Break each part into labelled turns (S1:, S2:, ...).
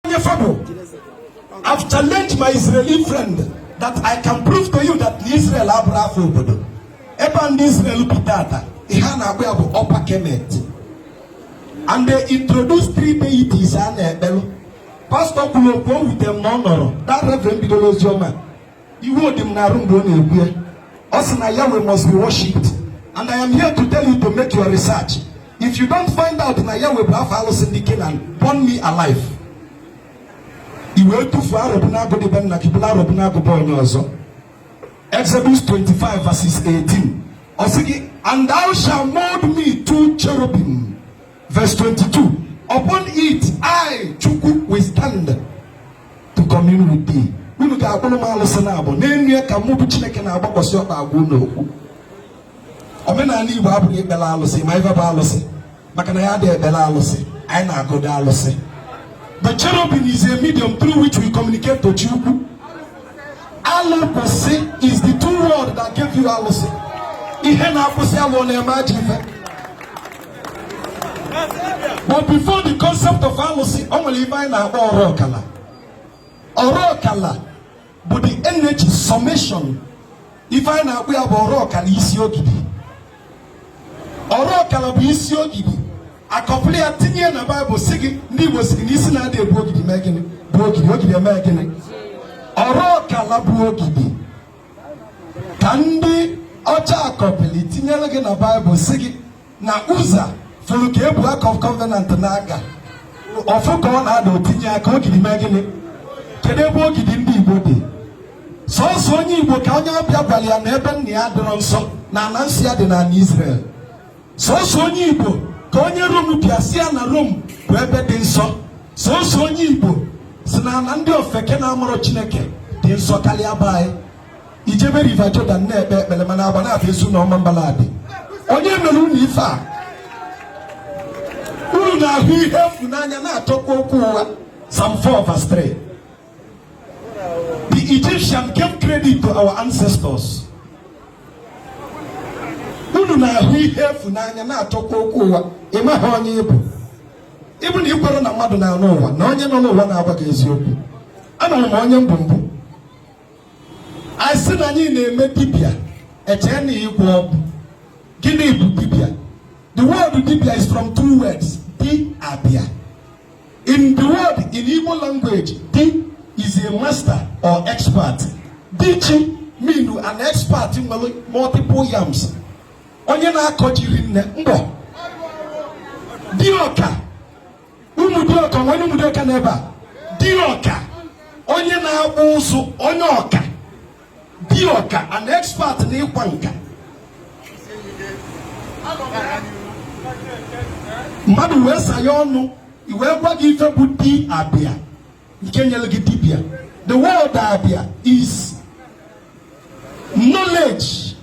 S1: onye fa bụ I've challenged my Israeli friend that I can prove to you that na Israel abụrọ afa obodo ebe ndị Israel bi tata ihe a na-akpọ ya bụ upper kemet and they introduce three deities a na-ekpelụ pastọ kwuru okwu o wutere m na ọ nọrọ that reverend bidoro oziọma iwe dị m n'arụ mgbe ọ na-ekwu ya ọ sị na Yahweh must be worshipped and I am here to tell you to make your research if you don't find out na Yahweh bụ afa alụsị ndị Kenan burn me alive i wee tufuo Arọbụnagụ dị be nna gị bulu Arọbụnagụ be onye ọzọ Exodus 25 verses 18 ọ sị gị and thou shalt mold me two cherubim Verse 22 Upon it I, Chukwu, will stand to commune with thee. Unu ga-akpụrụ m alụsị naabọ n'elu ya ka mụ bụ Chineke na-agbakwasị ọkpa agwa unu okwu. Omenala Igbo abụghị ekpere alụsị ma ife bụ alụsị maka na adịghị ekpere alụsị anyị na-agọdo alụsị. The cherubim is a medium through which we communicate to Chukwu. Alụ kwụsị is the two word that gave you alụsị. Ihe na-akwụsị alụ na-eme ajọ ife. but before the concept of alụsị o nwere ife anyị na-akpọ ọrụ ọkala ọrụ ọkala bụ the energy summation ife anyị na-akpọ ya bụ ọrụ ọkala isi ogidi ọrụ ọkala bụ isi ogidi a kọpịlị ya tinye na baịbụl sị gị ndị igbo sị gị na isi na-adị ebu ogidi mee gịnị bụ ogidi ogidi eme gịnị ọrụ ọkala bụ ogidi ka ndị ọcha kọpịlị tinyere gị na baịbụl sị gị na Uzza fụrụ ka e bu ark of covenant na-aga ọ fụ ka ọ na-ada o tinye aka ogidi mee gịnị kedu ebe ogidi ndị igbo dị sọsọ onye igbo ka onye ọbịa gwara ya na ebe nna ya adịrọ nsọ na ana nsọ ya dị n'anị Israel sọsọ onye igbo ka onye rom bịa sị ya na rom bụ ebe dị nsọ sọsọ onye igbo sị na ana ndị ofeke na-amarọ chineke dị nsọ karịa be anyị i jebe river jordan na-ekpe ekpere mana Agbanabọ Ezu na Ọmambala adị onye mere unu ife a unu na-ahụ ihe efu n'anya na-achọkwa okwu ụgha Psalm 4 verse 3 The Egyptian gave credit to our ancestors. Unu na-ahụ ihe efu n'anya na-achọkwa okwu ụgha ị maghị onye ị bụ ị bụ na i kwere na mmadụ nọ n'ụwa na onye nọ n'ụwa na-agwa gị eziokwu ama m onye m bụ mgbe anyị sị na anyị na-eme dibịa e chee na ịgwọ ọgwụ gịnị bụ dibịa the word dibịa is from two words di abịa In the word in Igbo language, di is a master or expert. Di ji mean an expert nwere multiple yams. Onye na-akọ ji rinne mgbo. Dioka. Ụmụ dioka nwere ụmụ dioka n'ebe a. Dioka. Onye na-akpụ ụzụ onye ọka. di ọka an expert n'ịkwa nka mmadụ wee sanye ọnụ e wee gwa gị ife bụ di abịa nke nyere gị dibịa the word abịa is knowledge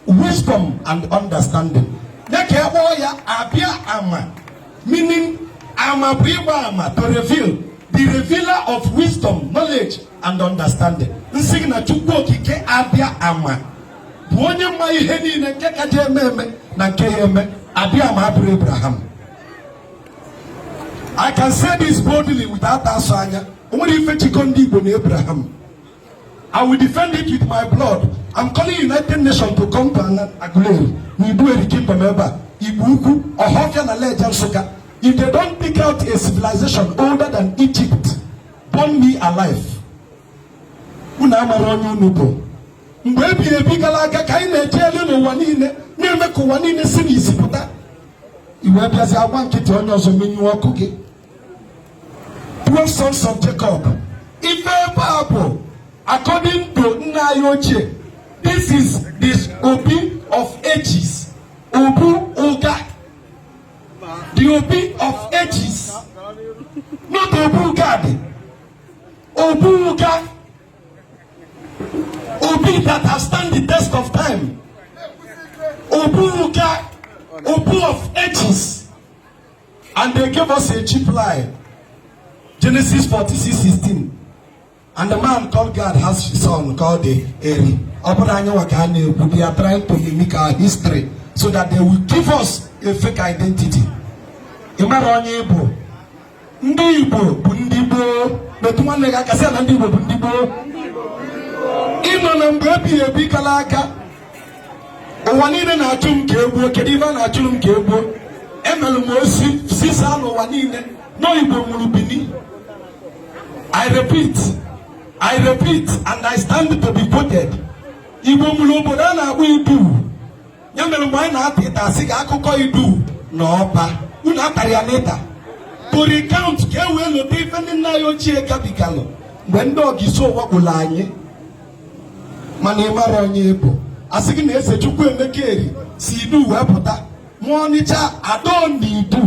S1: wisdom and understanding dịka a kpọọ ya abịa ama meaning ama bụ ịgba ama to reveal the revealer of wisdom knowledge and understanding m sị gị na chukwu okike abịa ama bụ onye ma ihe niile nke ka je-eme eme na nke ya eme abịa ama abụrụ abraham i can say this boldly without asọ anya o nwere ife jikọ ndị igbo na abraham I will defend it with my blood. I'm calling United Nations to come to Aguleri, n'Iduu Eri Kingdom ebe a, Igbo Ukwu, Ọhafịa na Leja Nsụka. If they don't dig out a civilization older than Egypt, burn me alive. Unu amara onye unu bụ. Mgbe ebighị ebi gara aga ka anyị na-eje elu n'ụwa niile na-eme ka ụwa niile si n'isi pụta. I wee bịazi agba nkịtị onye ọzọ menyụọ ọkụ gị. twelve sons of Jacob ife ebe a bụ according to nna anyị ochie this is the obi of ages obu ụga the obi of ages not obu gad obu ụga obi that has stand the test of time obu ụga obu of ages And they gave us a cheap lie. Genesis 46 16. And the man called Gad has his son called Eri. Ọ bụrọ anyịnwa ka a na-ekwu. They are trying to mimic our history so that they will give us a fake identity. Ị mara onye ị bụ. Ndị Igbo bụ ndị gboo. Metụ nwanne gị aka sị na ndị Igbo bụ ndị gboo. Ị nọ na mgbe ebighị ebi gala aga ụwa niile na-achụ m ka e gbuo kedu ife a na-achụrụ m ka e gbuo emelụ m ozi zisaa n'ụwa niile na igbo nwere bini i repeat i repeat and i stand to be quoted igbo nwere obodo a na-akpọ idu ya mere mgbe anyị na-ata ịta a sị ka akụkọ idu na ọba unu atara ya n'ịta to recount ka e wee lota ife ndị nna anyị ochie gabigalụ mgbe ndị ogiso wakpolu anyị mana ị mara onye ị bụ a sị gị na eze Chukwuemeka Eri si idu wee pụta ma ọnịcha adọ n'idu